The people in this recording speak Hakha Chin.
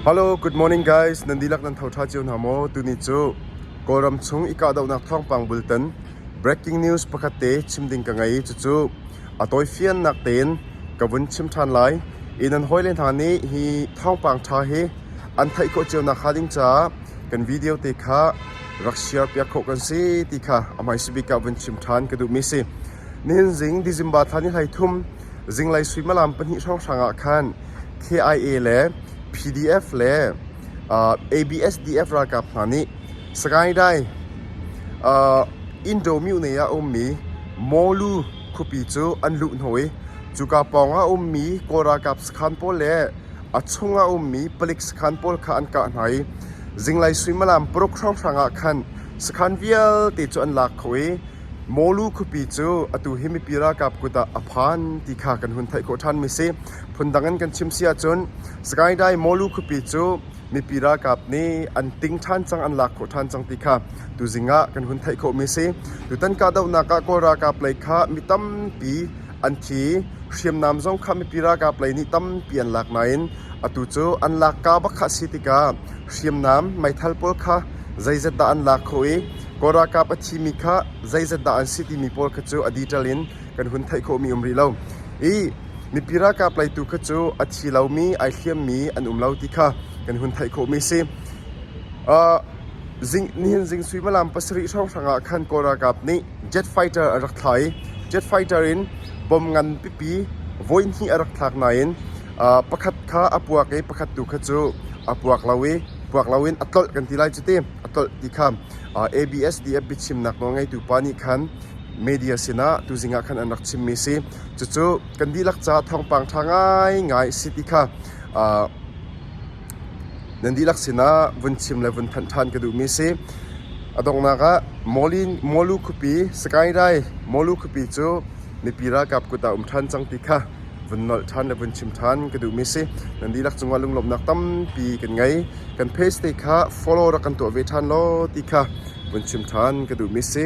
Hello, good morning guys. Nan dihlak nan tho ṭha cio hna maw? Tuni cu Kawlram chung i kahdohnak thawngpang bultan breaking news pakhat te chim ding ka ngei. Cucu a tawifiannak tein ka vun chim ṭhan lai. I nan hawile hna nih hi thawngpang ṭha hi an theih khawh cio nakhnga ding caah kan video te kha rak share piak khawh kan si ti kha a hmaisabik ah vun chim ṭhan ka duhmi si. Nenzing December thla ni hleithum zinglei suimilam pahnih hrawnghrang ah khan KIA le PDF le ABSDF ralkap hna nih Sagaing-Dai Indomyune ah a ummi Mawlu khuapi cu an luh hna i cuka pawng ah a ummi Kawl ralkap sakhan pawl le a chung ah a ummi palik sakhan pawl kha an kah hna i zinglei suimilam paruk hrawnghrang ah khan sakhan vialte cu an lak kho i Mawlu khuapi cu atu hi mipi ralkap kut ah a phan ti kha kan hun theih khawh ṭhanmi a si. Phundang in kan chim si ahcun Sagaing-Dai Mawlu khuapi cu mipi ralkap nih an ting ṭhan cang, an lak khawh ṭhan cang ti kha tuzing ah kan hun theih khawhmi a si. Tutan kahdohnak ah Kawl ralkap lei kha mi tampi an thi i hriamnam zong kha mipi ralkap lei nih tampi an lak nain atu cu an lak kaa bak kha a si tikah hriamnam meithal pawl kha zeizat dah an lak khawh i Kawl ralkap a thimi kha zeizat dah an si timi pawl kha cu a detail in kan hun theih khawhmi um rih lo. I mipi ralkap lei tu kha cu a thi lomi, ai hliammi an um lo ti kha kan hun theih khawhmi a si. Uh, zing, nihin zing suimilam pasarih hrawnghrang ah khan Kawl ralkap nih jet fighter an rak thlah i jet fighter in bom ngan pipi voihnih a rak thlak nain uh, pakhat kha a puak i pakhat tu kha cu a puak lo i puak loin a tlolh kan ti lai cu ti. a tolh ti kha ABSDF biachimnak nawl ngeitu pa nih khan media sinah tuzing ah khan an rak chimmi a si. Cucu kan dihlak caah thawngpang ṭha ngaingai a si ti kha nan dihlak sinah vun chim le vun thanh ṭhan ka duhmi a si. A donghnak ah Mawlin Mawlu khuapi, Sakainrai Mawlu khuapi cu mipi ralkap kut ah um ṭhan cang ti kha vun nolh ṭhan le vun chim ṭhan ka duhmi si. Nan dihlak cungah lunglawmhnak tampi kan ngei. Kan page te kha follow rak kan tuah ve ṭhan law ti kha vun chim ṭhan ka duhmi si.